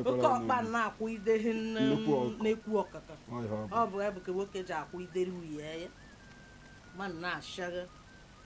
oke ọkpa na-akwụ idehi na-ekwu ọkụkọ ọ bụ ya bụ ka nwoke ji akwụ ideri nwunye ya ma na-achagha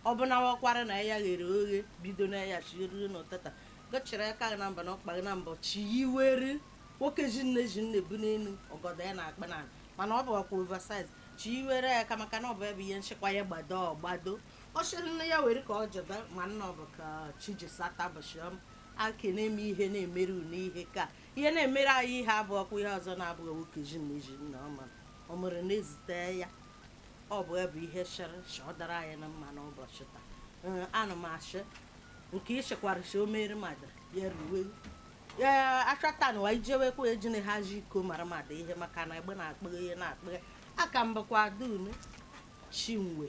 ọ bụ na wakwara na ya ghere oghe bido na ya chiriri n'ụtata gochiri aka gị na mba na ọkpa gị na mbọ chi yiwere nwoke ji nne ji nne bu n'elu ọgọdọ ya na-akpa na mana ọ bụ ọkwa oversize chi yiwere ya ka maka na ọ bụ ebe ihe nchekwa ya gbado gbado ọ chịrị nne ya were ka ọ jebe ma nna ọ bụ ka chi ji sata bụchịọm ake na-eme ihe na-emere unu ihe ka ihe na-emere anyị ihe abụ ọkwa ihe ọzọ na-abụghị nwoke ji na iji nna ọma ọ mụrụ na-ezute ya ọ bụ ya bụ ihe chịrị chị ọ dara anyị na mma n'ụbọchị taa Ee, ana m achị nke ịchịkwara chi o mere mmadụ ya ruwe ee achọta na wa ijewekwa ejine ha ji iko mara mmadụ ihe maka na egbe na-akpụghị ihe na-akpụghị aka mba kwa dunu chinwe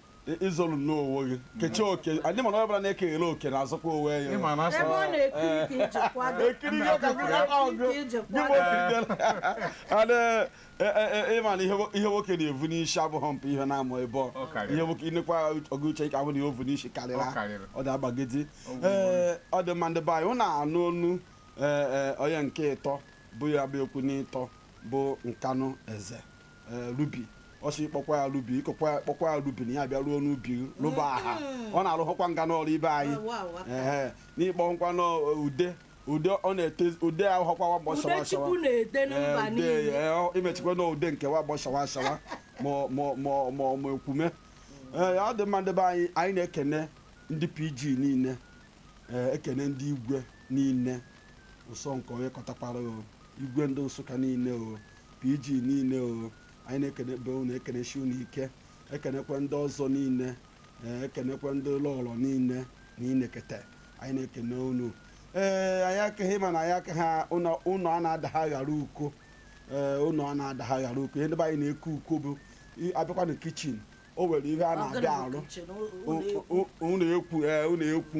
ịzọlụ nnọọ onwe gị kechie oke anyị mana onye ọbụla na-ekeghele oke na azụkwa onwe ya ị ma na ebe asọ ọ na-ekiri ka iji kwado ekiri ihe ka gị aka ọgụ Ka iji gị bụ kwado. okirikela ana ị ma na ihe nwo- ihe nwoke na-evu n'isi abụghị mpụ ihe na-amụ ebe ọ Ọ karịrị. ihe nwoke inekwa ọgụ uche ka ahụ na ihe o vu n'isi Ọ karịrị karịrị. ọ da-agbagidi Ọ bụ ee ọ dị mma ndị be anyị hụ na-anụ onu ee, ee, onye nke ịtọ bụ ya bụ ekwu n'ịtọ bụ Nkanụ eze ee, rubi ọsị kpọkwa ya rubi ịkọkwa ya- kpọkwa ya rubi na ya bịa ruo n'ubi gị, rụba aha ọ na-arụhụkwa nga n'ọrụ ibe anyị Wow, wow, wow. ee n'ịkpọ nkwa n'ude ude ọ na-ete ude ahụhọkwa wa gbọ shawa shawa Udechukwu na-ede na Ee, mba ude, niile ee, ọ- imechikwa na ude nke wa gbọ shawa shawa ma ọ- ma ọ- ma ọ- ma ọ- ma ekwume ee ọ dị mma ndị be anyị anyị na-ekene ndị pg niile ee, ekene ndị igwe niile ụsọ nke onye kọtakwara o igwe ndị Nsụka niile o pg niile o anyị na-ekene be unu ekenesi unu ike ekenekwe ndị ọzọ niile ee, ekenekwe ndị lọlọ niile na inekete anyị na-ekene unu ee anyị akaghị ma na anyị akaghị ụnọ ụnọ a na-adagha ghara uko ee ụnọ a na-adagha ghara uko ihe ndị be anyị na-eke uko bụ i- abịakwa na kichin o nwere ihe a na-abịa arụ ụlọ ekwu ee ụlọ ekwu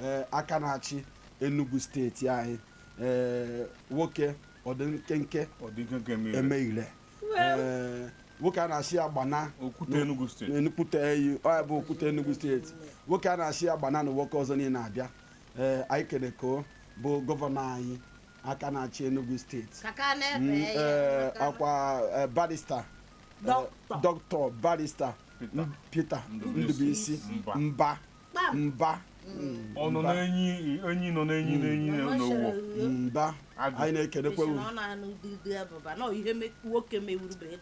ee aka na-achị Enugu steeti anyị ee nwoke ọdị nkenke ọdị nkenke eme ire eme ire ee nwoke a na-asị ya gbana okwute Enugu steeti n'enukwute eyi ọ ya bụ okwute Enugu steeti nwoke a na-asị ya gbana na nwoke ọzọ niile abịa ee anyị kene ka ọ bụ gọvanọ anyị aka na-achị Enugu steeti ka ka na-ebe Mm, ya ee, maka- akwa ee, barista Dọkịta. dọkịta barista Peter. M- Peter Ndubuisi. Ndubuisi Mba. mba mba ọ nọ n'enyi enyi nọ n'enyi n'enyi n'ụwa mba Agụ. anyị na-ekelekwa unu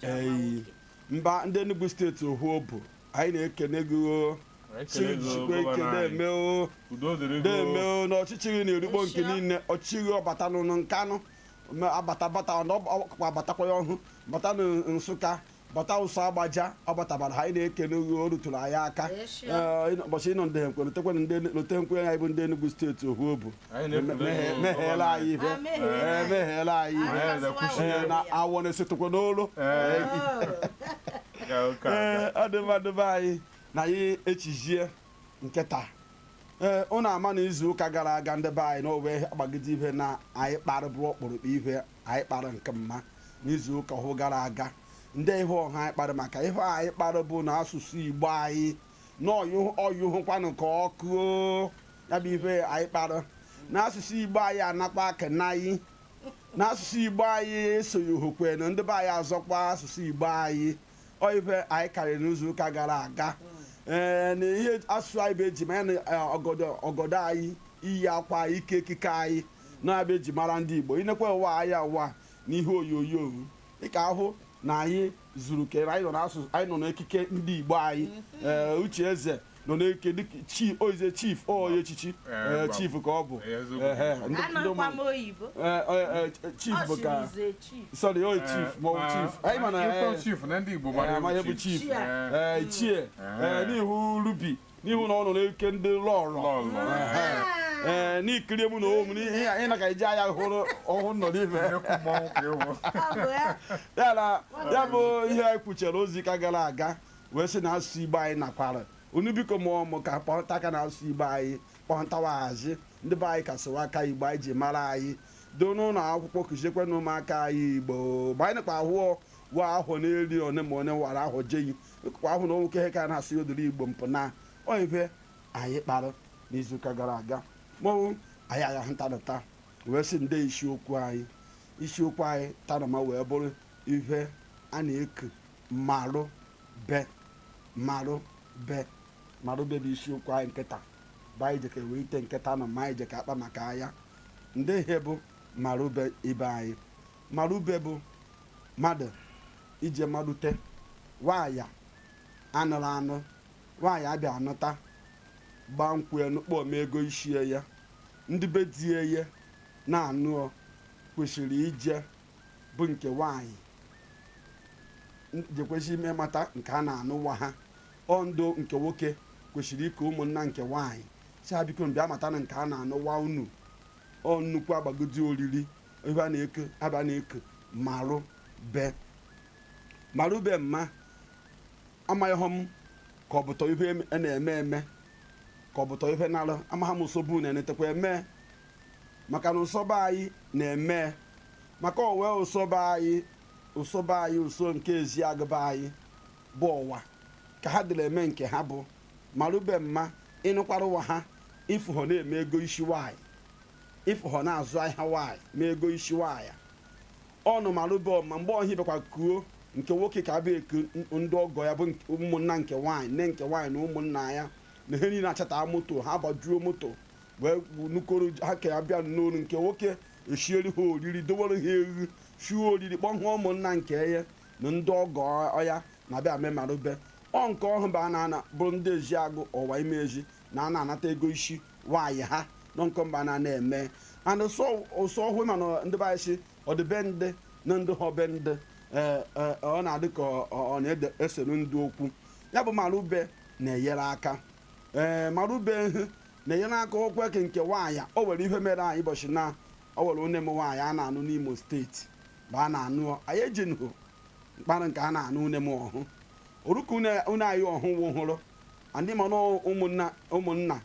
Eyi. mba ndị Enugu steeti ohu obu anyị na-ekene gị o Ekele gị, jisikwa ike gọvanọ anyị. na-eme o udo dịrị gị na-eme o. o na ọchịchị gị na-erukpo nke Nsịa. niile ọchịchị gị ọ batanụ na Nkanụ ma abatabata ọ na- ọ- ọkwa abatakwa ya ọhụ bata na nsụka bata ụsọ agbaja ọ batabara ha anyị na-ekele gị o rutụrụ anyị aka Ee, sure. Ee, ịnọ- ụbọchị ịnọ ndị nkwe lotekwana ndị lotenkwe anyị bụ ndị Enugu steeti ohu obu Anyị na-ekele Mehe- gị, meheela gọvanọ. anyị ife Ah, meheela Ee, anyị. meheela anyị ife Anyị Ee, na-ekwuchi ya. na awọ na-esetụkwa n'olu Ee, ka ụka ee ọ dị mma ndị be anyị na anyị echijie nke taa ee unu ama na izu ụka gara aga ndị be anyị na owe gbagide ihe na anyị kpara bụ ọkpụrụkpụ ihe anyị kpara nke mma n'izu ụka ọhụ gara aga nde ihe ọhụ anyị kpara maka ihe anyị kpara bụ na asụsụ igbo anyị na ọ nyụhụkwanụ ka ọkụ o. ya bụ ihe anyị kpara na asụsụ igbo anyị anakwa ka naị na asụsụ igbo anyị esoghị hụkwe na ndị be anyị azọkwa asụsụ igbo anyị ọ ife anyị karịrị n'izuụka gara aga ee na ihe asụsụ anyị bụ eji mara na eh, ọgọdọ ọgọdọ anyị iyi akwa anyị ike ekike anyị na-abụ eji mara ndị igbo i nekwawa anyị ụwa na ihe onyonyo ị ka-ahụ na anyị zuru kere anyị nọ n'asụsụ anyị nọ n'ekike ndị igbo anyị ee uche eze nọ na-eke dịka chi oize chief ọya echichi Eh, eh, gbam. chief ka ọ bụ Eh, eziokwu. Eh, eh, ndị- ndị anọkwa ụmụ- m oyibo eh, eh, eh, chief bụ ka Ọ sịrị chief. sorry oyi chief ma ọ bụ chief anyị ma na eh, Ịkpọ chief na ndị Igbo eh, mara amaghị bụ ewu chief chief. Eh, eh, ichie eh, n'ihu rubi n'ihu na ọ nọ na-eke ndị lọrọ lọlọ. ee n'ikiri mụ na onwe m n'ihe anyị na ka iji anya hụrụ ọhụrụ nọ n'ime Nnekwu mmọnwụ ka ịwụ. Ọ bụ ya. ya na ya bụ ihe anyị kwuchere izu ụka gara aga wee sị na asụsụ igbo anyị nakwara unu biko mụọ mụ ka kpọta aka na asụsụ igbo anyị kpọntawaghazi ndị be anyị kasịwa aka igbo anyị ji mara anyị doo n'ụlọ akwụkwọ kụziekwe na ụmụaka anyị igbo ma anyị nakwa ahụọ wa ahụ n'eri one ma onye wara ahụ jeyi kwa ahụ na nwoke ihe ka na-asị odiri igbo mpụ na ọ ife anyị kpara n'izuụka gara aga mọnwụ anyị agha ntanata wee sị nde isiokwu anyị isiokwu anyị tanama wee bụrụ ife a na-eku marụ be marụ be marụ be bụ isiokwu anyị nke taa bụ anyị jeka weite nke taa nọ ma anyị jeka akpa maka ya nde ihe bụ marụ be ibe anyị marụ be bụ mmadụ ije marute nwaanyị a nụrụ anụ nwaanyị abịa anụta gbaa nkwụ ya nụkpọ mee ego isi ya ndị be di ya na-anụ ọ kwesịrị ije bụ nke nwaanyị jekwazị ime mata nke a na-anụ nwa ha ọ ndụ nke nwoke kwesịrị iku ụmụnna nke nwaanyị si ha biko bịa matanụ nke a na-anụ nwa unu ọ nnukwu agbagodi oriri ebe a na-eke ebe a na-eke marụ be marụ be mma amahọ m ka ọ bụtọ ihe a na-eme eme ka ọ bụtọ ihe nara amaghị m nsogbu na-enetekwa eme maka na ụsọ be anyị na-eme maka o wee ụsọ be anyị ụsọ be anyị ụsọ nke Ezeagu be anyị bụ Ọwa ka ha dịrị eme nke ha bụ marube mma ịnụkwara nwa ha ịfụhọ na e mee ego isi nwanyị ịfụhọ na-azụ ahịa nwanyị mee ego isi nwanyị ọnụ marube ma mgbe ọhụ a bịakwa kuo nke nwoke ka-abịa eku ndị ọgọ ya bụ ụmụnna nke nwaanyị nne nke nwaanyị na ụmụnna ya na ha niile achata moto ha gbajuo moto wee nukoro ha ka ya bịa n'ụlọ nke nwoke esieri ha oriri dowere ha e shie oriri kpọọ ụmụnna nke ya na ndị ọgọ ya abịa mee marube ọ nke ọhụ bụ a na-ana bụrụ ndị Ezeagu Ọwa Imezi na a na-anata ego isi nwaanyị ha nọ nke mba na na-eme and ụsọ ụsọ ọhụụ ma na ndị be anyị si Udi be ndị na ndị ha be ndị ee, ee, ọ na-adị ka ọ- ọ ọ na-esere ndị okwu ya bụ marube na-enyere aka ee marube hụ na ihe na-akọ okwu eke nke nwaanyị o nwere ihe mere anyị ụbọchị na o nwere une m nwaanyị a na-anụ n'imo steeti bụ a na-anụ anyị ejenụ ịmara nke a na-anụ une m ọhụ oruka une anyị ọhụ nwụhụrụ ndị mana ụmụnna ụmụnna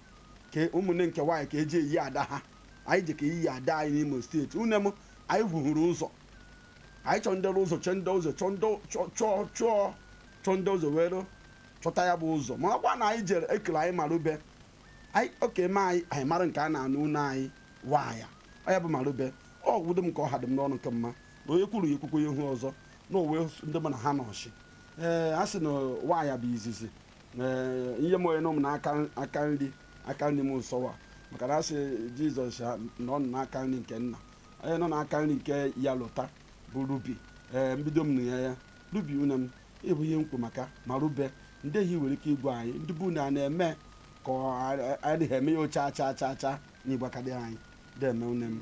ka ụmụnne nke nwaanyị ka eje eyi ada ha anyị je ka iyi ada anyị n'imo steeti une m anyị fuhuru ụzọ anyị chọọ ndị ụzọ chọọ ndị ụzọ chọọ ndị chọọ chọọ chọọ chọọ ndị ụzọ were chọta ya bụ ụzọ ma ọkwa na anyị jere ekere anyị marube anyị oke ma anyị amara nke a na-anụ une anyị nwaanyị ọ ya bụ marube ọ gwụdo m ka ọ ha dị m n'ọnụ ka mma na onye kwuru ya ekwukwe ya ihu ọzọ na owe ndị mụ na ha nọshi ee a sị na nwaanyị bụ izizi ee ihe m onye nọ m n'aka aka nri aka nri m sọwa maka na a sị jizọs nọ n'aka nri nke nna onye nọ n'aka nri nke ya lụta bụ rubi ee m bido m na ya ya Rubi une m, ị bụ ihe m kwu maka marube ndị ihe i nwere ike ịgwa anyị ndị bụ une a na-eme ka ọ adịghị eme ya ocha acha acha acha na ịgbakadị anyị deme une m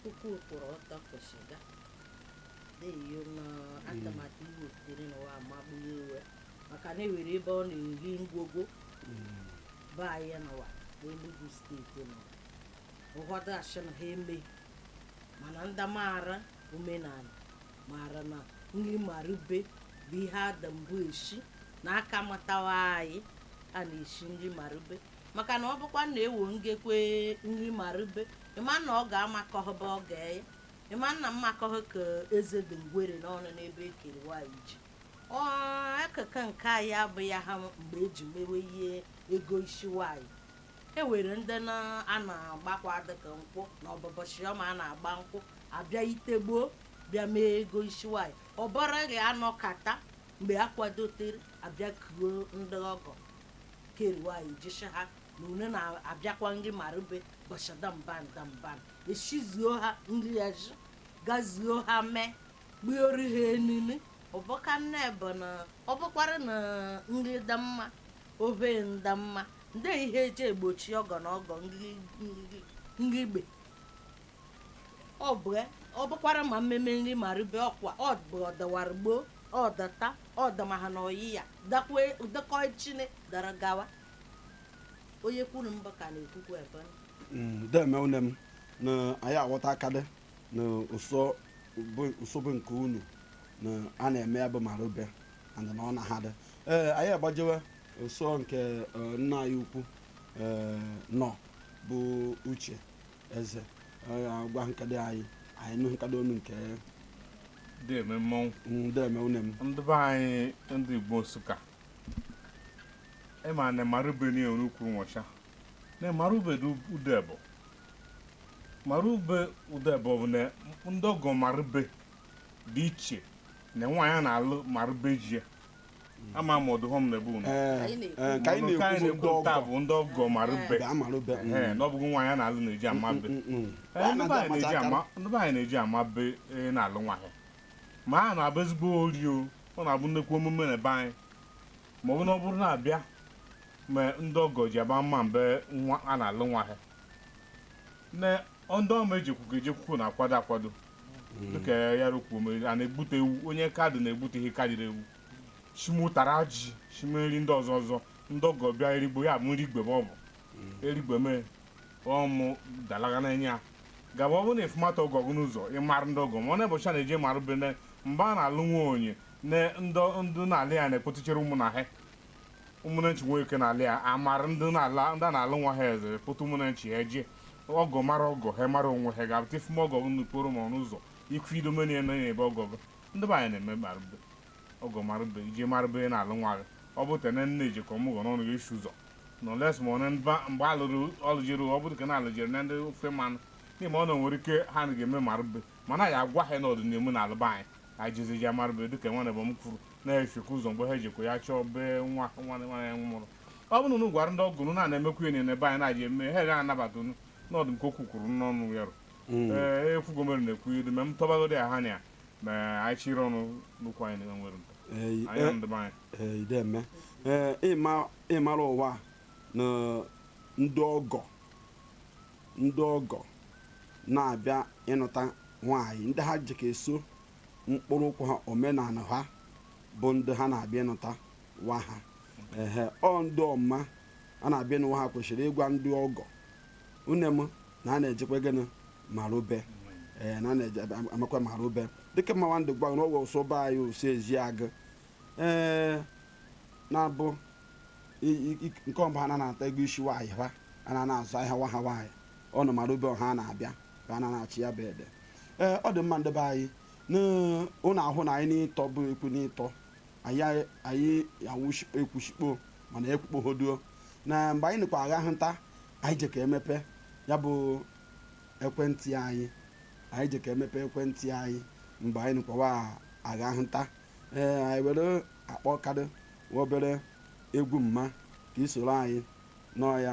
Ukwu kwụrụ ọtọ kwụsịga. Deyo na atụmatụ iwu sitere n'ụwa amagbu ya iwe maka na ewere ebe ọ na-eri ngwogwo be anyị n'ụwa bụ Enugu steeti nọ. Ụfọdụ asị na ha eme mana ndị maara omenala mara na nri marube bụ ihe a dị mbụ eshi na a ka mụtawa anyị a na-eshi nri marube maka na ọ bụkwa na ewo ngekwe nri marube ịma na ọ ga-amakọhọba ọ ga-eye ịma na mmakọhọ ka eze dị ngwere n'ọnụ n'ebe ekere nwaanyị ji ọ akụkụ nke anyị abụghị ha mgbe eji mewe ihe ego ishi nwaanyị e nwere ndị na a na-agbakwa dịka nkwụ na ọ bụ bọchị ọma a na-agba nkwụ abịa ite gboo bịa mee ego ishi nwaanyị obere oge a nọkata mgbe a kwadotere abịa kuo ndị ọgọ keriwaanyị je shị ha na une na-abịakwa nri marube bọchị damban damban eshizuo ha nri ya ji gazuo ha mee gbuori ha enunu ọbụka nne bụ na ọ bụkwara na nri dị mma ohe dị mma ndị ihe eji egbochi ọgọ na ọgọ ngigbe ọ bụ ya ọ bụkwara ma mmemme nri marube ọkwa ọ bụ ọ dịwara gboo ọ dị taa ọ dịmaha na ọyị ya dịkwa dịkọ echi na dịrị gawa onye kwuru mbụ ka na-ekwukwa ebe Mm, deme une m na anyị aghọta akadị na ụsọ bụ ụsọ bụ nke unu na a na-eme ya bụ marube and na ọ na ha dị ee anyị agbajewe ụsọ nke eh, nna anyị ukwu eh, nọ bụ uche eze eh, agwa ihe ka dị anyị anyị nụ ihe ka dị unu nke deme oo deme une m ndị be anyị ndị igbo nsụka ịma na marube na enwere ukwu nwọcha na marube dị ụdị ebo marube ụdị ebo bụ na ndị ọgọ marube dị iche na nwaanyị a na-alụ marube ji ya ama m ọdụ hom na-ebu unu ka anyị na-ekwu ndị ọgọ bụ ndị ọgọ marube marube na ọ bụghị nwaanyị a na-alụ na-eji ama ibe ndị be anyị na-eji ama ibe na-alụ nwaanyị ma a na-abụ ezigbo ori o ọ na-abụ nnekwu omume na be anyị ma ọ bụ na ọ bụrụ na-abịa ma ndị ọgọ ji agba mma mbe nwa a na-alụ nwaanyị Ndị ọma ejekwugo ejekwugo na-akwado akwado dịka ya rukwuo mere a na-egbute ewu onye aka dị na-egbute ihe karịrị ewu shime ụtara ji shime nri ndị ọzọ ọzọ ndị ọgọ bịa erigbo ya bụ nri igwe ma ọ bụ erigwe mee ọmụ dalaga na-enye ya gaba ọ bụrụ na ị fụmata ọgọ gị n'ụzọ ịmara ndị ọgọ ma ọ na bọchị a na-eje marube na mgbe a na-alụ nwa onye na ndị ndị na-alụ ya na-ekpọtụchere ụmụnna ha ụmụnne nchi nwee ike n'ala ya amara ndị na-ala ndị a na-alụ nwa ha eze pụta ụmụnne nchi ya jee ọgọ mara ọgọ ha mara onwe ha ga-abụta ifume ọgọ gị n'okporo ma ọnụ ụzọ ikwu ido meni ya nọnye ebe ọgọ gị ndị be anyị na-eme marụbe ọgọ marụbe ije marụbe ị na-alụ nwa gị ọ bụ tene nne ejikọ ọmụgọ n'ọnụ gị isi ụzọ na oles ma onye mba mgbe alụrụ ọlụjere ọ bụrụ ka na alụjere na ndị ofe mmanụ n'ihi ma o nwere ike ha na ga-eme marụbe mana ya agwa ha ndị na-alụ be anyị ka anyị jezi je marụbe dịka nwanne m kwuru na-esekwa ụzọ mgbe ha ejikwa ya chọọ bee nwa nwa nwa ya nwụrụ ọ bụrụ na unu gwara ndị ọgọ unu na-emekwu ya na be anyị na-eji eme ha ga anabata unu n'ọdụ nke okwu kwuru n'ọnụ ya rụ ee ekwugo mere na-ekwu idu ma m tọbagodi ya ha na ya ma anyị chịrị ọnụ n'ukwu anyị na nwere mpe Ee, anyị na ndị be anyị ee, ideme ee ịma- ịmara ụwa na ndị ọgọ ndị ọgọ na-abịa ịnụta nwaanyị ndị ha ji ka eso mkpụrụ okwu ha omenala ha bụ ndị ha na-abịa ịnụta nwa ha ehe ọ ndị ọma a na-abịa ịnụ nwa ha kwesịrị ịgwa ndị ọgọ nne m na a na-ejekwa gịnị marube ee na a na-eje amakwa marube dịka mmawa ndị gwa n'ọgwọ ụsọ be anyị ụsọ Eziagụ ee na-abụ i- i- i- nke ọmba ha na-anata ego isi nwaanyị ha a na-azụ ahịa nwa ha nwaanyị ọ nọ marube ọ ha na-abịa ka a na-achị ya be di ee ọ dị mma ndị be anyị unu ahụna anyị n'ịtọ bụ ekwu n'ịtọ anyị anyị awụ ekwushikpo mana ekwukpohoduo na mgbe anyị nịkwa agha hụ nta anyị je ka emepe ya bụ ekwentị anyị anyị je ka emepe ekwentị anyị mgbe anyị nịkwawa agha hụ nta ee anyị were akpọ kadị obere egwu mma ka i soro anyị nụọ ya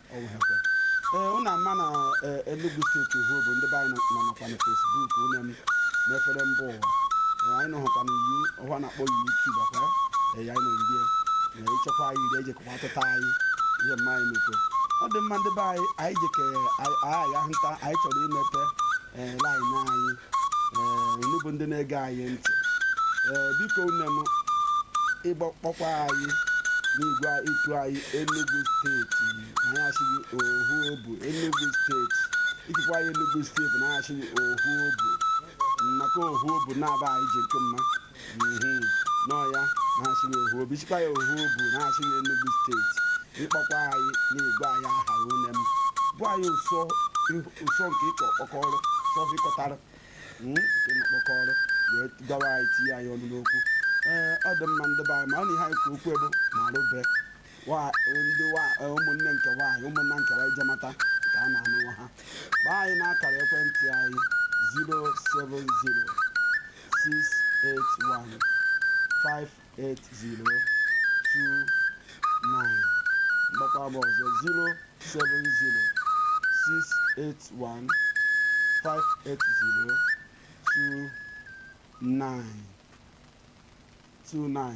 ee ụnụ ama na eh, Enugu steeti hụ bụ ndị be anyị nọ nakwa na Facebook ụnụ em na-efere mba ụwa Eh, anyị nọhụkwa na yu ọhụ a na-akpọ YouTube akwa eh, ya anyị nọ iri ya na ịchekwa anyị iri ejekwa atụta anyị ihe mma anyị mekwe ọ dị mma ndị be anyị anyị jeke anyị ahụ nta anyị chọrọ imepe ee laịn anyị ee unu bụ ndị na-ege anyị ntị ee biko nne m ịgbakpọkwa anyị n'igwe ịtụ anyị Enugu steeti na ya asịghị ohu obu Enugu steeti ikikwa anyị Enugu steeti na ya asịghị ohu obu nnọkọ ohu obu na-aba anyị ji nke mma n'ọya na-asị na ohu obu chikwa ya ohu obu na-asị na Enugu steeti ịkpọkwa anyị na-agwa anyị aha une m bụ anyị ụsọ ụsọ nke ịkọ ọkpọkọrọ sọfikọtara ịnọkpọkọrọ wee gawa anyị tinye anyị ọnụ n'okwu ee ọ dị mma ndị be anyị ma ọ na ihe anyị ka okwu ebe marụbe Wa- ndị wa- eh, ụmụnne nke nwaanyị ụmụnna nke nwaanyị je mata ka a na-anụ nwa ha gbaa anyị n'akara ekwentị anyị 070-681-58029 mgbakwa bụ ọzọ 070-681-58029 29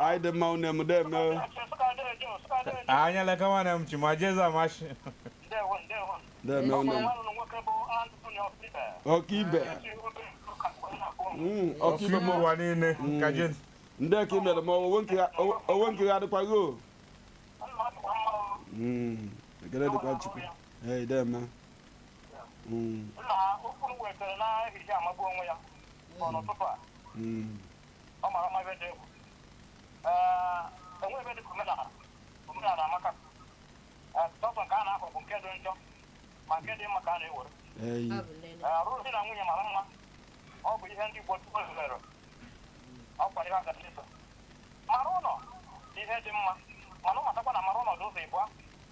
anyị dị mma une m deme anya leka nwanne m chi ma jezi amashi deme une m ọkaibe Mm, ọkaibe ọkaibe m ụwa niile Mm. ka jin ndị ka imere m owe nke ya- owe- owe nke ya adịkwaghị o Mm, ekele dịkwa Chukwu ee deme Mm, nna ha okwu m wetara n'ehihie a amagbu onwe ya ọ n'ụtụtụ a mm, ọ mara mma ebe dị egwu Ee, o nwe ihe dị ka omenala omenala amaka Ee, sọsọ nke a na-akọ bụ nke dị njọ ma nke dị mma ka a na-ewere eyi. Ọ bụ nene. Ee, alụm di na nwunye mara mma ọ bụ ihe ndị Igbo tupu mere ọ kwara ihe agachi so mara ụlọ bụ ihe dị mma mana ị matakwa na mara ụlọ dị ụzọ ịbụa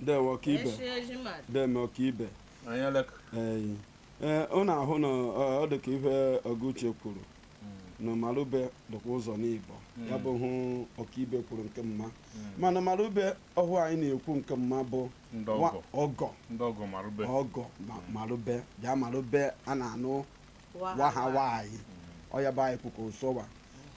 deme ọka ibe Eshi eji mmadụ. deme ọka ibe anyị alaka Ee, ee, ọ na-ahụ na ọ ọ dị ka ihe Ọgụuche kwuru na Marube dịkwa ụzọ naabọ ya bụ ihe ọkaibe kwuru nke mma mana Marube ọhụụ anyị na-ekwu nke mma bụ Ndị nwa- ọgọ. ọgọ ndị ọgọ marụbe ọgọ ma- Marube bịa Marube a na-anụ wa ha wa anyị ọ ya bụ anyị kwuka ụsọwa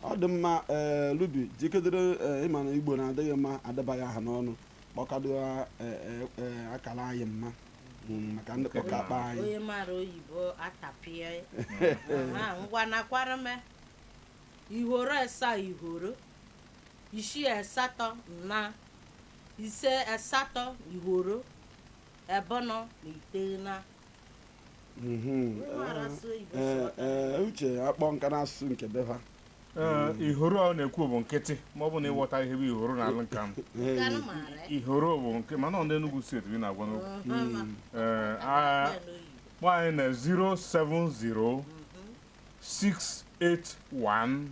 ọ dị mma ee lubi jikedere ee, ịma na Igbo na-adịghị mma adabaghị ha n'ọnụ kpọkado ee, ee, ee, akara anyị mma Mm, maka ndị kpọka akpa anyị onye mara oyibo atapịa ya. Aha, ngwa nakwara m ihoro esa ihoro isii asatọ na ise asatọ ihoro ebọnọ na iteghena Mhm. Ee, ee, uche akpọọ nke a n'asụsụ nke be ha Ee, ihoro ọ na-ekwu bụ nkịtị ma ọ bụ na ị ghọtaghị ihe bụ ihoro n'olu Nkanu ihoro bụ nke mana ọ ndị Enugu steeti bi na-agwa n'okwu Ee, a- kpọọ anyị na 070 681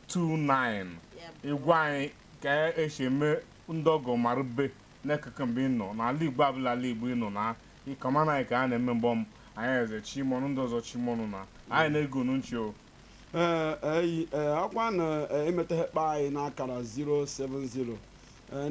58029 ị gwa anyị ka e si eme ndị ọgọ marube N'ekeke mgbe ị nọ, n'alị Igbo ọbụla alị Igbo ị nọ na ịkọma na ka a na-eme mgbe ọm anyị eze chimọnụ ndị ọzọ chimọnụ na anyị na-ege unu nchi o ee eyi ee ọ kwanụ ee, ị metaghị kpọ anyị n'akara 070 ee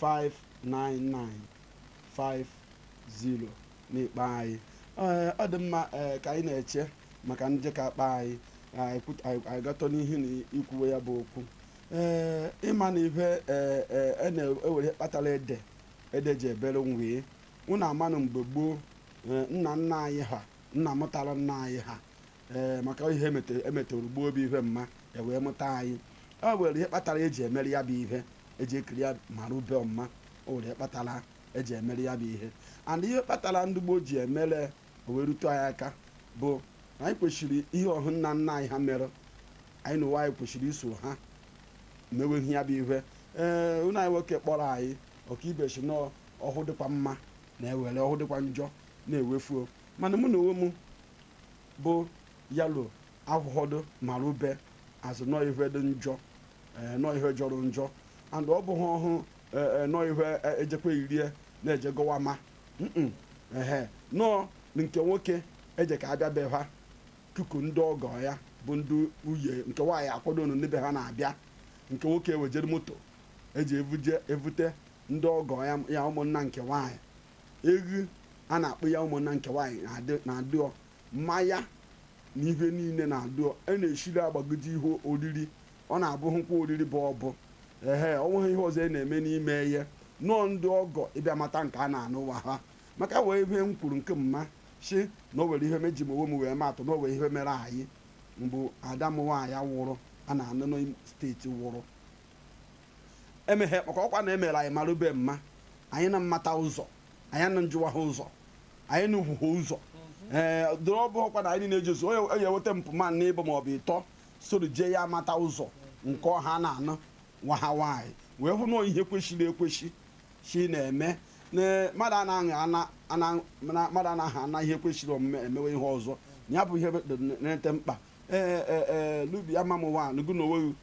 59950 n'ikpe anyị Ee, ọ dị mma ee, ka anyị na-eche maka ndị ka-akpọ anyị anyị kwut- anyị- anyị gatọ n'ihu na ikwuwe ya bụ okwu ee ịma na ihe ee, ee, na o nwere ihe kpatara ede ede ji ebere nwee unu amanụ mgbe gboo ee, nna nna anyị ha nna mụtara nna anyị ha ee maka ihe e metara gboo obi ihe ma e wee mụta anyị ọ nwere ihe kpatara eji emere ya bụ ihe eji ekiri ya mara ube ọmma o nwere ihe kpatara eji emere ya bụ ihe and ihe kpatara ndị gboo ji emere o wee rute anyị aka bụ na anyị kwesịrị ihe ọhụ nna nna anyị ha mere anyịnwa anyị kwesịrị iso ha mewe ya bụ ihe ee nwanne anyị nwoke kpọrọ anyị Okeibe si na ọhụ dịkwa mma na-ewere ọhụ dịkwa njọ na-ewefuo mana mụ na onwe m bụ yalo ahụhọdụ mara ube azụ nọ ihe dị njọ ee, nọ ihe jọrọ njọ and ọ bụghị ọhụụ ee, ee, nọ ihe e- ejikwa irie na-eje gọwa ma Mm-mm. ehe nọọ nke nwoke eji ka abịa be ha kuku ndị ọgọ ya bụ ndị nwunye nke nwaanyị akwado ọnụ n'ebe ha na-abịa nke nwoke ewejere moto eji evuje evute ndị ọgọ ya ya ụmụnna nke nwaanyị eghu a na-akpụ ya ụmụnna nke nwaanyị na-adị- na-adịọ mmanya na ihe niile na-adịọ a na-eshiri agbagide ihe oriri ọ na-abụhụkwa oriri bụ ọbụ ehe ọ nweghị ihe ọzọ a na-eme n'ime ya nọọ ndị ọgọ ịbịa mata nke a na-anụ nwa ha maka wee ihe m kwuru nke m ma si na o were ihe meji m onwe m wee matụ na o were ihe mere anyị mbụ ada m nwaanyị wụrụ a na-anụ na steeti wụrụ emeghe maka ọkwa na emere anyị marube mma anyị na mmata ụzọ anyị na-ajụwa ha ụzọ anyị na ugwu ha ụzọ ee dịrị ọ bụ ọkwa na anyị niile ejezu onye onye eweta mpụ ma na ịbọ maọbụ ịtọ soro jee ya mata ụzọ nke ha na-anụ nwa ha nwaanyị wee hụ na ihe kwesịrị ekwesị shi na-eme na mmadụ anaghị ana ana mana mmadụ anaghị ana ihe kwesịrị omume emewe ihe ọzọ ya bụ ihe na-ete mkpa ee ee ee lubi ama m nwa lụgụ na onweghị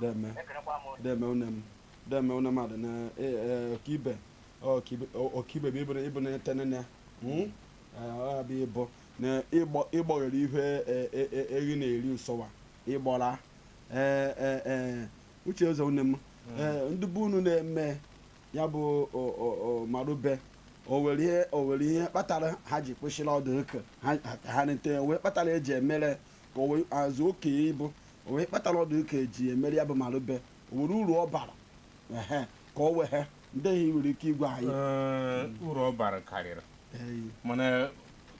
deme deme une m deme une m adị na e, e, ọkaibe ọkaibe- ọ- ọkaibe bụ ịbụ- ịbụ na tenene Mm? Eh, ọ bụ ịbụ na ịgbọ- ịgbọghere ihe e- e- e- ehi na-eri nsọwa ịgbọra Eh, eh, eh, uche ụzọ une m Eh, ndị be unu na-eme ya bụ o- o- o- marube o were ihe o were ihe kpatara ha ji kwụsịrị ọdụ ụka ha ka ha nete wee kpatara eji emere ka o wee azụ oke ịbụ o were ihe kpatara ọ dụ ka eji emere ya bụ marube o were uru ọ bara ehe ka o were ihe ndị i nwere ike ịgwa anyị Ee, uru ọ bara karịrị Eyi. mana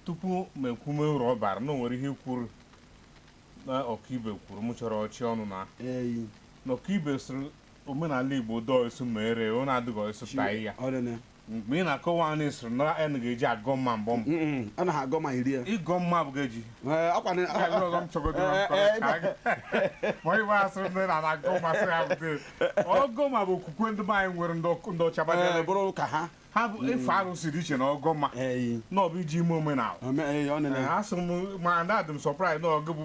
tupu m ekwume uru ọ bara na o nwere ihe kwuru na ọkaibe kwuru m chọrọ ọchị ọnụ na eyi na ọkaibe sịrị omenala igbo dọọ isu mere ọ na-adịghị ọsụ taa ya ọrịa mgbe ị na-akọwa anyị sịrị na n ga-eji agọ mma mgbe a na-agọ ma iri ya ịgọ mma bụ ga-eji Ee, ọkwa na- Nke a bụrụ ọzọ m chọgodo na mkpọrọ Ee, ee, ka anyị- ma ịgba asị ndị na na-agọ ma sị ha bute ọgọ ma bụ okwukwe ndị be anyị nwere ndị ọkụ- ndị ọcha ee, gbadere bụrụ ka ha ha bụ ife arụsị dị iche na ọgọ ma Ee, na ọ bụ iji eme omenala ome- ee, ọ nene. Ee, asị m ma na adị m surprised na ọgụ bụ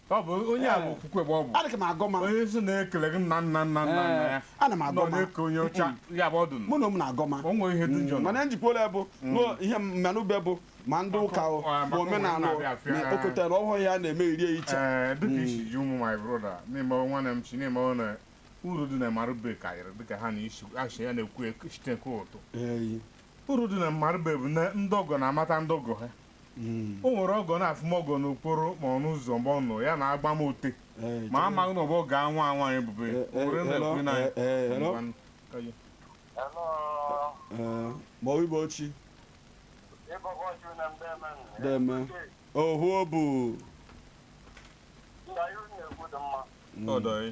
ọ bụ onye a bụ eh. okwukwe bụ ọ bụ adịghị m agọ ma onye isi na-ekele gị nna nna nna nna nna ya eh, ana m agọ ma na-eke onye ọcha ya bụ ọdụ mụ na ụmụ na-agọ ma o nwere ihe dị njọ mm, mana njikwa ole bụ mm. ihe marụbe bụ ma ndị ụka bụ omenala na okotara ọhụrụ ya na-eme iri iche eh, dịka mm. isi ji ụmụ my brother na-eme nwanne m chi na-eme na uru dị na marụbe karịrị dịka ha na isi asha ya na-ekwu site nke ụtụ uru dị na marụbe bụ na ndị ọgọ na-amata ndị ọgọ ha Mm. o nwere ọgọ na-afụ ọgọ n'okporo ma ọ n'ụzọ mgbe ọ nọ ya na-agba moto Eh, ma amaghị na ọ bụ ọgọ nwa nwaanyị bụbe Eh, eh, were na-ekwu hello, n'anya. eh, eh, hello. Ngwanụ, ka ya. Hello, eh, ma ọ ibe ochi ịbọbọ ju na mbe men. Deme. ohu obu Ndị anyị na-ekwu dị mma. Ọ dọghị.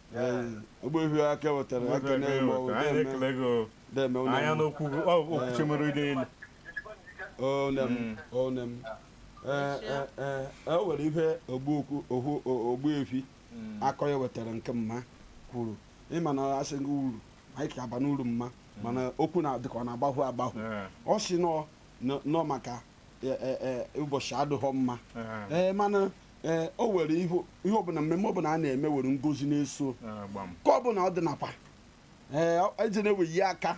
Ogbuefi aka wetara aka na-eme ọgwụ anyị na-eme ekele gị o. na-eme ụlọ anya m. n'okwu gị ọ bụ okwuchi mere ide elu One m, one m. Ee, ee, ee, e nwere ife ogbu okwu okwu o- Ogbuefi akọ ya wetara nke mma kwuru ịma na asị gị uru anyị ka aba n'uru mma mana okwu na dịka ọ na-agbahụ agbahụ Ee, ọ si nọ nọ- nọ maka e- e- e, ụbọchị adịghọ mma ee. ee mana ee o were ihe ihe ọbụla mmemme ọbụla a na-eme were ngozi na-eso Ah, gbam. ka ọbụla ọ dị nakwa ee eji na-eweyi aka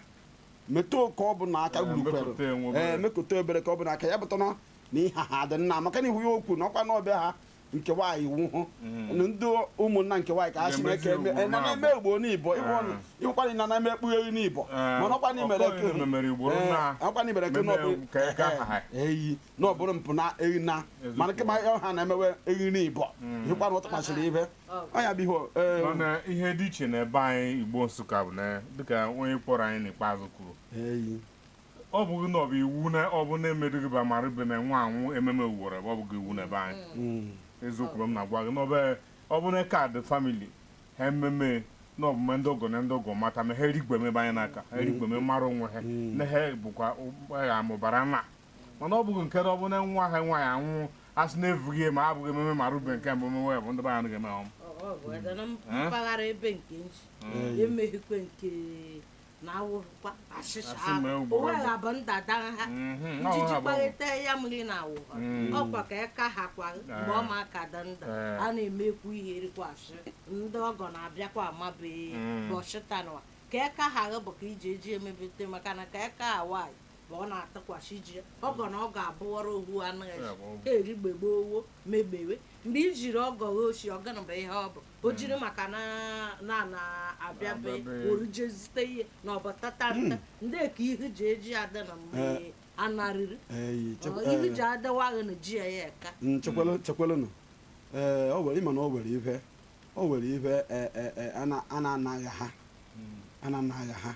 metụ ka ọbụla aka Ee, gburukwere mekụta enwe obere. ee mekụta obere ka ọbụla aka ya pụta na na ihe ha dị nna maka na ihu ya okwu na ọkwa na be ha nke nwaanyị ahụ na ndị ụmụnna nke nwaanyị ka ha si Ga-emezi na-eke eme ugboro na na-eme na-abụ. ugboro n'ibo Ee. ịkwanye na na-eme ekpugheghị n'ibo Ee, mana ọkwa na imere ọkwa na imemere ugboro na- ọkwa na imere eke meme n'ọbụ ka eke aha ha. eyi na ọ bụrụ mpụ na ehi na mana kama ọha na-emewe ehi na ibọ hịkwara ụtọ kpachiri ibe ọnya bụ ihe ee, mana ihe dị iche n'ebe anyị igbo nsụka bụ na dịka onye kpọrọ anyị n'ikpeazụ kwuru eyi ọ bụghị na ọ bụ iwu na ọ bụ na-emedughị ba marụbe na nwa anwụ ememe uworo ebe ọ bụghị iwu n'ebe anyị Mm. eziokwu bụ m na-agwa gị n'ọbe ọ bụ na kaadị family ha ememe na ọ bụ ma ndị ọgọ na ndị ọgọ mata ma ha erigbeme ebe anyị n'aka ha erigbeme mara onwe ha na ha bụkwa ụgbọgha mụbara na mana ọ bụghị nke na ọ bụ na nwa ha nwaanyị anwụ a sị na evughị ya ma a bụghị ememe marụbe nke mbụ mewe bụ ndị be anyị ga-eme ọm Ọ- ọ bụ eze na mpaghara ebe nke nchi emeghịkwe nke na awụkwa achịcha Asị ahụ. mee o ugboro wee abụọ. abụ ndada ha Mhm, ọ ijiji ha bụ- kparịta ya mmiri na awụ ha Mm. ọkwa ka ya ka ha kwa mgbe ọ ma aka dị ndụ Eh. a na-emekwu ihe erikwa asị ndị ọgọ na-abịakwa amabeghị Mm. bọchịtanwa ka ya ka ha bụ ka iji eji emebete maka na ka ya ka ha nwaanyị ma ọ na-atụkwasị ji ya ọgọ na ọ ga-abụwara ohu anụ Ya ezi bụ ọgọ. eri gbegbe owo megbewe mgbe i jiri ọgọ ghe osi ọgana bụ ihe ọ bụ o jiri maka na na na abịabe Abịabe. oru je zute ihe na ọ bụ tata ndị ka ihu ji eji ada na mgbe Eh. anarịrị Ee, chekwa- Ọ, ihu ji ee, adawaghị na ji ya ya eka mm, chekwalụ- chekwalụnụ ee o were ịma na o were ife o were ife ee, ee, ee, a na- a na-anaghị ha a na-anaghị ha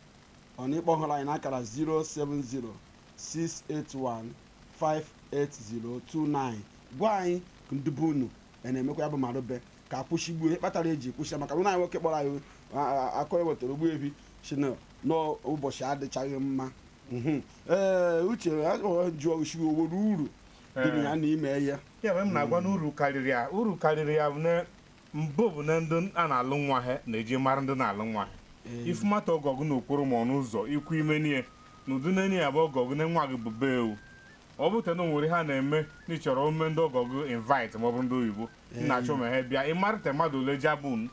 ọ na ị kpọhụrụ anyị n'akara 07068158029 gwa anyị ka ndị be unu ya na-emekwa ya bụ marụbe ka a kwụsịgwo ihe kpatara eji kwụsị ya maka na anyị nwoke kpọrọ anyị akọrọ wetara ogbu ebi si na n'ụbọchị adịchaghị mma Mhm. ee uche ya jụọ sị o nwere uru dị na ya na ime ya ya mere m na-agwa na uru karịrị ya uru karịrị ya bụ na Mbụ bụ na ndị a na-alụ nwa ha na-eji mara ndị na-alụ nwa ha. I fụ mata ọgọ gụ n'okporo ma ọnụ ụzọ ikwu ime nie na ụdị n'enye ya bụ ọgọ gụ na nwa gị bụ be ewu. Ọ bụ te na o nwere ihe a na-eme na ị chọrọ ime ndị ọgọ gụ invite ma ọ bụrụ ndị oyibo na a chọ ma ha bịa ịmarịta mmadụ ole jabun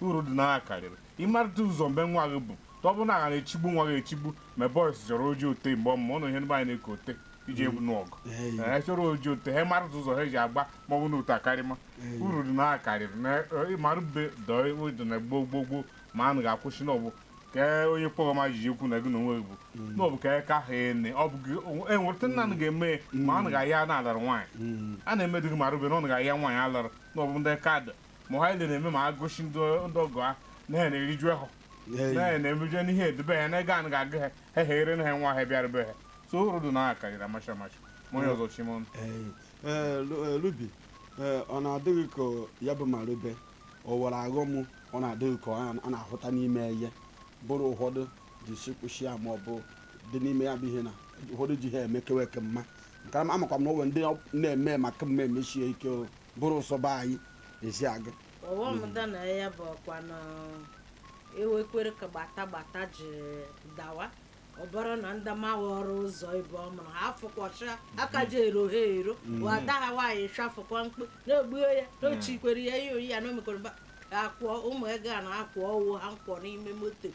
uru dị na ya karịrị ịmarịta ụzọ ebe nwa gị bụ ọ bụ na ha na-echigbu nwa gị echigbu ma boys chọrọ oji ote mgbe ọmụma ụnụ ihe ndị be anyị na-eke ote iji egwu n'ọgụ ee chọrọ oji otu ha mara ụzọ ha ji agba ma ọ bụ n'otu akarịma uru dị na ya karịrị na marụbe dọọ dị na gboo gboo gboo ma a naghị akwụsị na ọ bụ ka onye kpọrọ ma jiji ekwu na gị na onwe gị bụ na ọ bụ ka ka ha ene ọ bụ gị enweta nna nụ ga-eme ya ma a naghị ahịa na a lụrụ nwaanyị a na-emedịghị marụbe na ọ naghị ahịa nwaanyị a lụrụ na ọ bụ ndị kadụ ma ha ile na-eme ma agụsị ndị ọgọ ha na ha na-eriju ahọ na na emuje n'ihe edebe ha na ego anụ ga-agụ ha ha ha ere na ha nwa ha bịara be ha so ụrụ dị na aka yiri amacha amacha ma onye ọzọ chima ọnụ lubi ọ na-adịghị ka ya bụ marube o were aghọm ọ na-adịghị ka ọ na-ahụta n'ime ihe bụrụ ụfọdụ ji sikwụsị ya ma ọ bụ dị n'ime ya bụ ihe na ụfọdụ ji ha emekewa eke mma nke ama amakwa m na onwe ndị na-eme maka mma emesie ike o bụrụ ụsọba anyị ezi aga ọghọm dị na ya bụ ọkwa na e wekwere ike gbata gbata ji dawa ọ bụrụ na ndị mawaro ụzọ be ọ mụrụ ha afụkwọcha aka ji ero ha ero wada ha nwaanyị chafụkwa mkpụ na-egbuo ya n'ochikwere ya ihe oyi ya na omekọrọ ba akwụọ ụmụ ego a na-akwụ ọwụ ha nkwọ n'ime moto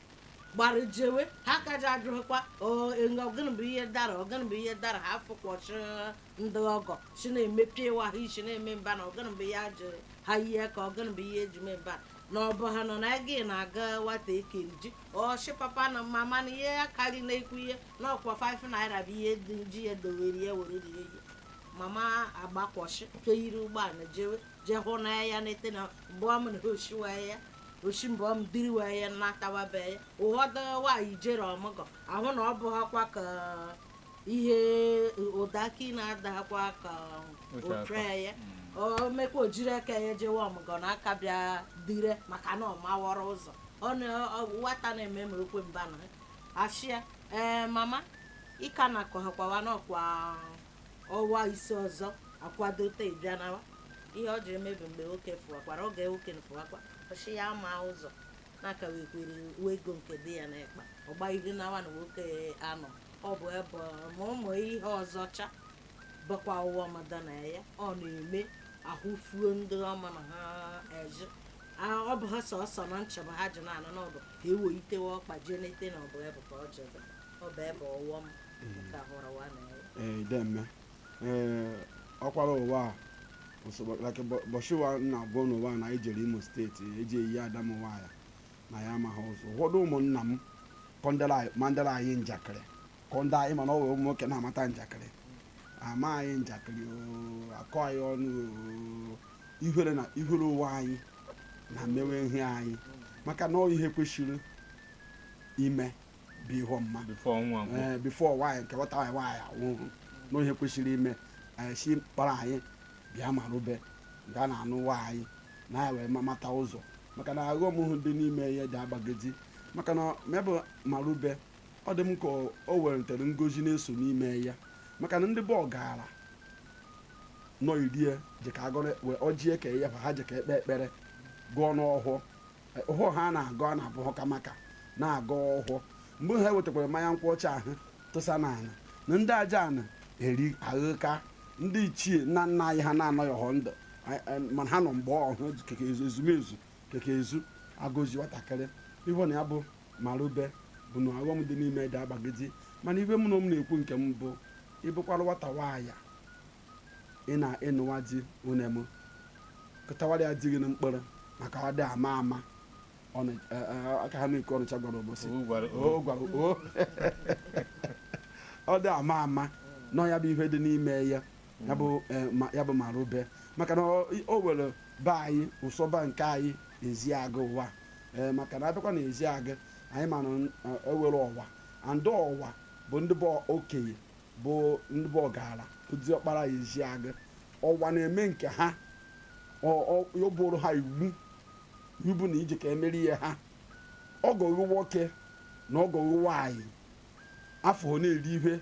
gbara jewe ha ka ji ajụghịkwa "Ọ, ịnọ, gịnị bụ ihe dara ọ gịnị bụ ihe dara ha afụkwọcha ndị ọgọ si na-emepe ịwa ha isi na-eme mba na ọgana mgbe ya ji ha ihe ka ọgana mgbe ihe eji mee mba na ọ bụ ha nọ na gị na-aga nwatakịrị ji ọchị papa na mama na ihe ya karị na-ekwu ihe na ọkwa 5 naira bụ ihe dị ji ya dowere ya were rie ihe mama agbakwọchị nke yiri ụgbọala jewe jee hụ na ya na-ete na mgbe ọ mụrụ ha oshiwa ya oshi mgbe ọ diriwa ya na-atawabe ya ụfọdụ nwaanyị jere ọmụgọ ahụ na ọ bụ ha kwa ka ihe ụda aka ị na-adakwa ka Oche aka. otre ya o mekwa o jiri aka ya jewe ọmụgọ na aka bịa dire maka na ọ mawara ụzọ ọ na ọ- nwata na-eme ma ekwe mba na asị ya ee mama ịka na akọhakwawa nọkwa ọwa ise ọzọ akwadote ịbịa nawa ihe ọ ji emebi mgbe oke fụwakwara oge oke fụwakwa ọ sị ya ma ụzọ na-aka wekwere uwe ego nke dị ya n'ekpa ọ gbaghiri nawa na nwoke anọ ọ bụ ebe ma ụmụ ihe ọzọcha bụkwa ọghọm dị na ya ọ na-eme ahụ fuo ndị ọma na ha eji A- ọ bụ ha sọsọ na nchebe ha ji na-anụ na ọ bụ ka ewo itewe ọkpa jee n'ete na ọ bụ ebe ka ọ jebe ọ bụ ebe ọghọm ka hụrụ wa na ya ee ideme ee ọkwara ụwa a ụbọchị ụwa na gụnwa na anyị jere Imo steeti eji eyi adamụwa ya na ya amaghị ụzọ ụfọdụ ụmụnna m kọndere anyị- mandere anyị njakịrị kọnde anyị mana ọ wee ụmụ nwoke na-amata njakịrị ama anyị njakịrị oo, akọ anyị ọnụ oo, ihere na ihere ụwa anyị na mmewe ihe anyị maka na ọ ihe kwesịrị ime bụ ihe ọmụma before ọnwa gwụ ee before nwaanyị nke nwata nwaanyị nwaanyị anwụhụ na ihe kwesịrị ime anyị si kpara anyị bịa maru be a na-anụ nwa anyị na anyị wee ma- mata ụzọ maka na aghọm hụ dị n'ime ya dị agbagidi maka na mebụ marube ọ dị m ka o- o weretere ngozi na-eso n'ime ya maka na ndị bụ ọgara nọ irie dị ka agọrọ wee ọjị eke ya ha ji ka ekpe ekpere gọọnụ ọhọ ọhọ ha na-agọ a na-abụ ha ka maka na-agọ ọhọ mgbe ha wetakwara mmanya nkwụ ọcha ahụ tụsa n'ala na ndị aja ana eri aghụka ndị ichie nna nna anyị ha na-anọghị họ ndụ a- a- mana ha nọ mgbe ọhụ keke ezu ezumezu keke ezu agọzi nwatakịrị ihe na ya bụ marube bụ na aghọm dị n'ime dị agbagidi mana ihe m na m na-ekwu nke m bụ ị bụkwara nwata nwaanyị ị nụwa di nwanne m kụtawara ya di gị na mkpọrọ maka a dị ama ama aka ha na-eke ọnịcha gwara ụbọchị ọ dị ama ama na ya bụ ihe dị n'ime ya ya bụ e, marube maka na o were be anyị ụsọba nke anyị Ezeagụ ụwa e, maka na a bịakwa na Ezeagụ anyị mana e were e Ọwa andị Ọwa bụ ndị bụ okenye bụ ndị bụ ọgara diọkpara Ezeagụ Ọwa na-eme nke ha ọ bụrụ ha iwu ị bụ na i je ka emeri ihe ha ọgọ gị nwoke na ọgọ gị nwaanyị afụhọ na-eri ihe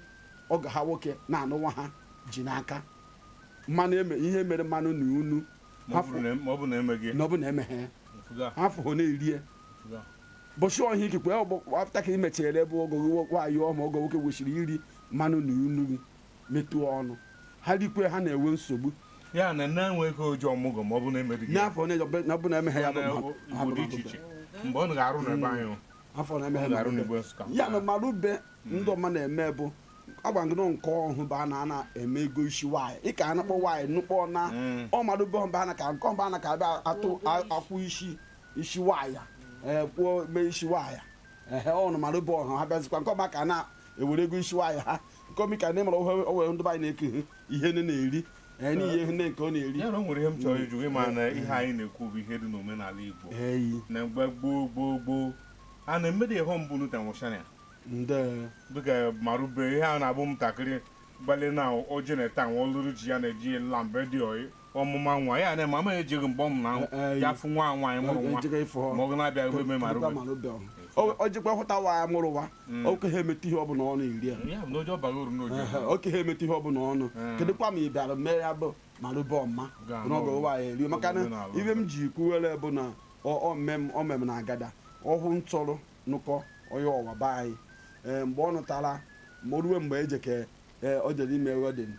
ọgọ ha nwoke na-anụ nwa ha ji n'aka mmanụ eme ihe mere mmanụ na unu ma ọ afọ bụrụ na ma ọ bụrụ na emeghị na ọ bụ na emeghe mfuga afụhọ na-erie mfuga bọchị ọhịa ikikwe ọgbọ afta ka i mechere ebe ọgọ gị nwaanyị ọma ọgọ nwoke kwesịrị iri mmanụ na unu gị metụọ ọnụ ha rikwe ha na-enwe nsogbu ya na na-enweghị oji ọmụgwọ ma ọ bụ na-emebighị ya. n'afọ na-eje- na ọbụla emeghe ya bụ Na- mmadụ. Ha bụ Igbo dị iche mmadụ. iche mgbe ọ ga-arụ na ebe anyị afọ na-emeghe Ọ ga-arụ mmadụ. n'Igbo Nsụka. ya na marube ndị Ụmana eme bụ agwa m gị nụ nke ọhụ bụ a na ana eme ego isi nwaanyị ị ka anụkọ nwaanyị anụkọ na Mm. ọ marube ọba na ka nke ọba na ka abịa atụ a- akwụ isi isi nwaanyị ee kwuo mee isi nwaanyị ehe ọ na marube ọhụ ha bịazikwa nke ọba ka a na-ewere ego isi nwaanyị ha komi ka ne mara o we ndị be anyị ne ke ihe ne na-eri ee n'ihe ihe nne nke ọ na-eri ya na o nwere ihe m chọrọ ịjụ gị ma na ihe anyị na-ekwu bụ ihe dị n'omenala Igbo anyị na mgbe gboo gboo gboo a na-emede ihe mbụ a nụta nwụchara ya ndị dịka marube ihe a na-abụ ntakịrị gbalị na oje na-eta nwa ọlụrụ ji ya na-eji lambe dị oyi ọmụma nwa ya na mama ejighị mgbe ọmụ na ya fụ nwa nwaanyị mụrụ nwa Ejighị ịfụ ọ. ma ọ na-abịa ruo eme ma Pụta ruo ma n'obe ọ. O- o jikwa hụta nwa ya mụrụ nwa oke ha emeta ihe ọbụla ọ na-eri ya ya bụ na oje ọbaghị uru n'oje Ehe, oke ha emeta ihe ọbụla ọnụ Mm. kedụkwa ma ị bịara mee ya bụ marube ọma Ga- n'oge ụwa ya erie maka na Omenala. ihe m ji kwuwere bụ na ọ- ọ mmem- ọ mmem na agada ọhụ nụrụ nụkọ onye Ọwa be anyị Ee, mgbe ọ nụtara ma o ruwe mgbe eje ka ee, o jere ime wedding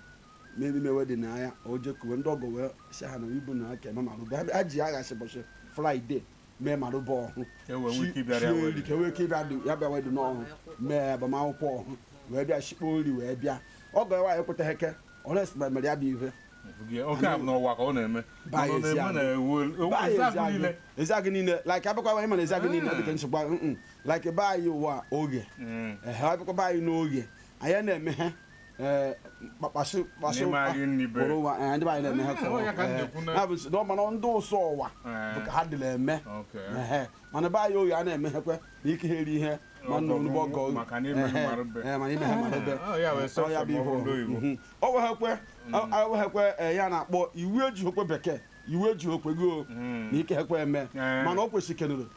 mmeri mewe dị na ya o jekuwe ndị ọgọ wee si ha na ibu na aka eme marụbe ha ji ya ghasị ụbọchị Friday mee marụbe ọhụ Ka e wee nwee ike ịbịara ya sie wee nri ka e nwee ike ịbịa dị- ya bịa wedị n'ọhụ mee agbamakwụkwọ ọhụ wee bịa shikpo nri wee bịa ọgọ ya nwaanyị ekwetaghị eke ọres mere ya bụ ihe Gị- oke a bụ n'Ọwa ka ọ na-eme Baa Ọ nọ ezi na-eme agụ. na ewu ewu Baa Ezeagụ niile Ezeagụ niile like abịakwa anyị mana Ezeagụ niile dịka nsogbu ahụ, mm, mm. like be anyị Ọwa Oghe Mm. ehe abịakwa be anyị n'Oghe anyị na-eme ha ee kpakpasị kpasị N'ime anyị nri be. kpụrụ ụwa ee, ndị be anyị na-eme ha ka Ọ ya ka m ee, na-ekwu na- ya bụ si- na ọ mana ndị ụsọ Ọwa Ee. bụ ka ha dịla eme Okay. Ehe. mana be anyị oyi a na-emeghekwe na ike ha eri ihe ma nna onugbo ọgọ oyi. Maka na imeghị Ehe. mara be. Ee, mana imeghị mara be. Ọ ya wee sọ Ọ ya sọ bụ ma ọ bụ ndị ihe oyibo. Mhm. o weghekwe o weghekwe ee, ya na-akpọ iwu ejighekwe bekee iwu ejighekwe gị o Mm. na ike hekwe eme Ee. mana o kwesịrị kenụrụ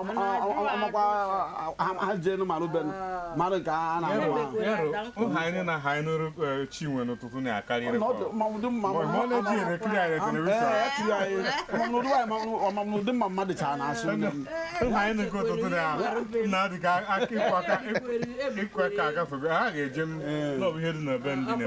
ọmakwa ha jee nụ marụ benu marụ nke a na-ahụ ahụ ụha anyị na ha anyị nụrụ chinwe n'ụtụtụ na-akarịrị ọmamnụdị mma mmadụ cha na-asụ ụha anyị nụkọ ụtụtụ na-adị ka ịkwa ka agafego ha ga-eje n'ọbụ ihe dị na be ndị na-eme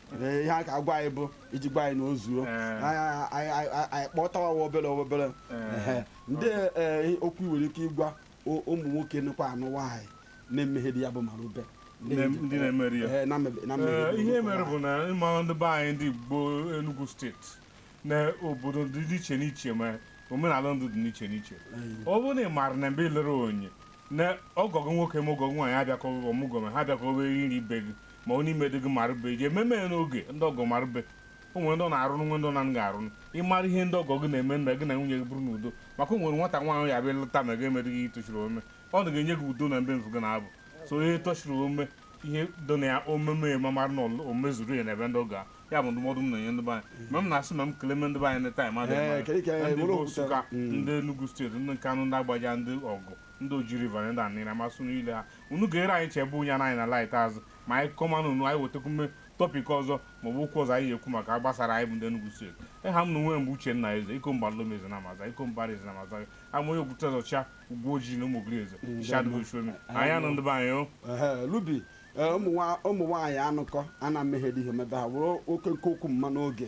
Ee, ihe a ka agwa anyị bụ iji gwa anyị na o zuo Eh. Anyị- anyị- anyị anyị kpọtawa wa obere obere Eh. Ehe. ndị eh, okwu i nwere ike ịgwa o- ụmụ nwoke nụkwanụ nwaanyị na-emeghedụ ya bụ marụbe Ndị Na- ndị na-emeri ya. Eh, na mebe- na mebe- Ee, ihe mere bụ na ịmara ndị be anyị ndị Igbo Enugu steeti na obodo dị iche n'iche ma omenala ndị dị n'iche n'iche ọ bụrụ na ị maara na mgbe i lere onye na ọgọ gị nwoke ma ọgọ gị nwaanyị abịakọghị gị ọmụgwọ ma ha abịakọghị eri nri be gị ma ọ na imedịghị marụbe ji ememe ya n'oge ndị ọgọ marụbe o nwere ndị ọ na-arụrụ nwe ndị ọ na-anaghị arụrụ ịmara ihe ndị ọgọ gị na-eme na gị na nwunye gị bụrụ n'udo maka o nwere nwata nwaanyị ya bịa lụta ma gị emereghị ihe toshiri ome ọ nagha enye gị udo na mbe mfu gị na-abụ so ihe toshiri ome ihe dụ na ya omeme ma mara na o mezuru ya na ebe ndị ọgọ a ya bụ ndụmọdụ m na-enye ndị be anyị mgbe m na-asị ma m kele me ndị be anyị na time adịghị Ee, mma. kedu ka ya ndị were bụ okwute? Nsụka Mm. ndị Enugu steeti ndị Nkanụ ndị Agbaja ndị Ọgwụ ndị Oji River na ndị Aninri masụ niile ha unu ga-ere anyị chebe ụnya na anyị na laịt azụ ma anyị kọmanụ unu anyị wetekwume topic ọzọ maọbụ okwu ọzọ anyị ga-ekwu maka gbasara anyị bụ ndị Enugu steeti aha m na onwe m bụ Uchenna Eze iko mba Lome Eze na Amaza iko mbara Eze na Amaza ama onye okwute ọzọcha ugwu ojii na ụmụ ogiri eze Mm, shadụ daalụ. ochuemi anyị anụ ndị be anyị o Ehe, Ruby Ee, ụmụ nwa- ụmụ nwaanyị anụkọ a na mmehie dị ihe mebe ha were oke nke okwu mma n'oge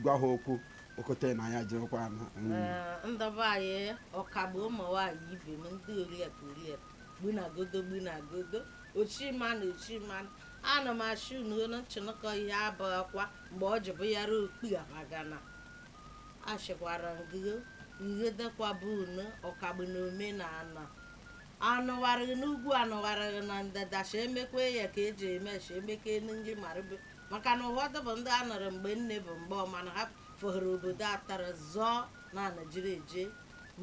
gwa ha okwu okwute na ya jirikwa ha mm. Ee, ndị be anyị ọkagbu ụmụ nwaanyị ibe m ndị oriakụ oriakụ gbunagodo gbunagodo ochimanụ ochimanụ ana m asị unu olu nchịnụkọ ihe abụghịkwa mgbe ọ jụbụ ya ruo okpu amagana achịkwara ngịgo ngịdekwaba unu ọkagbu na omenala anụwarịghị n'ugwu anụwarịghị na ndịda si emekwa ya ka e ji eme si emeka elu nri marịbe maka na ụfọdụ bụ ndị a nụrụ mgbe nne bụ mgbe ọma na ha fọhụrụ obodo atara zọọ na anajiri eje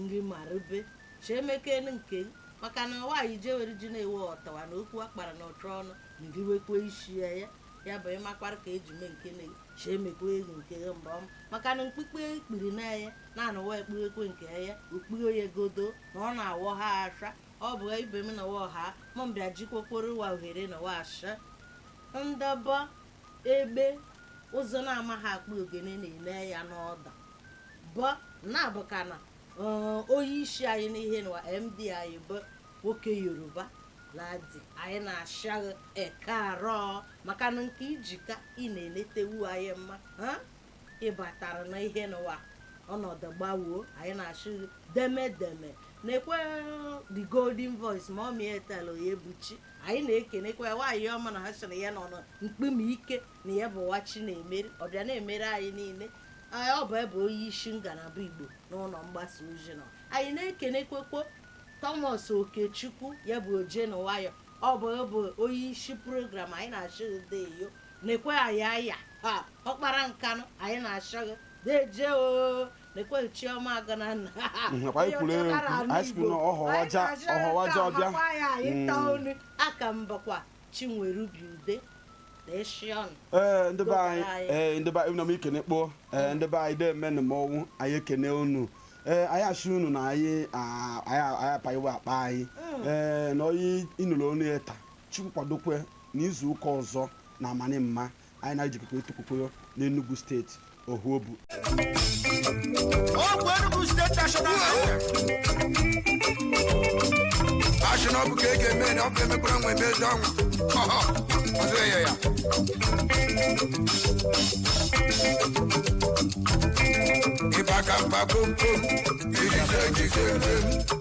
nri marịbe si emeka elu nke maka na nwaanyị jewere ji na-ewe ọtawa na okwu akpara na ụtụ ọnụ na iriwekwa isi ya ya ya bụ ịmakwara ka e ji mee nke na si emekwa elu nke ya mgbe ọma maka na mkpukpe ekpiri na ya na anụwa ekpughekwe nke ya okpughe ya godo na ọ na-awọ ha asha ọ bụ ibe m na ọha mọ mbịa jikwokporo wa ohere nụwa asha ndọba egbe ụzọ na-amaghị akpa ogene na-ele ya n'ọda bọ na-abụ ka na onye isi anyị n'ihe nụwa md anyị bụ nwoke yoruba ladi anyị na-ashị gị ekaaro maka na nke i ji ka ị na-eletewu anyị mma ị batara na ihe nụwa ọnọdụ gbawoo anyị na-ashị deme deme na-ekwe the golden voice ma ọ mịa etela ya ebuchi anyị na-ekenekwa ya nwaanyị ọma na ha sị na ya nọ na mkpim ike na ya bụ nwa chi na-emere ọbịa na-emere anyị niile anyị ọ bụ ya bụ onye isi ngalaba igbo n'ụlọ mgbasa ozi nọ anyị na-ekenekwekwo thomas okechukwu ya bụ oje na nwayọ ọ bụ ya bụ onye isi program anyị na-ashị deyo nekwe ayaya ha ọkpara nkanụ anyị na-ashị gị deje o nekwe chioma agana nna nakwa anyị kwuru ekwu anyị sikwu na ọhọwaja ọhọwaja ọbịa Mm. aka mbakwa chinwerubi ude na eshi ọnụ ee ndị be anyị Anyị. ee ndị be anyị na m ekene kpoo ee ndị be anyị deemenụ m ọnwụ anyị ekene unu ee anyị asị unu na anyị a- anyị anyị apaghịwa akpa anyị ee na onye ị nụrụ onu ya taa chukwu kwadokwe N'izu ụka ọzọ na amani mma, anyị na-ejikọkwa etukwukwe n'Enugu steeti Ohuobu. Ọgwụ Enugu State National Highway. Achị na ọ bụ ka e ga-eme na ọ bụ emekwara nwe ebe ezi ọnwụ. Ọhọ, ọzọ ya ya. Ịba ka mba kom kom, ijise ejise njem.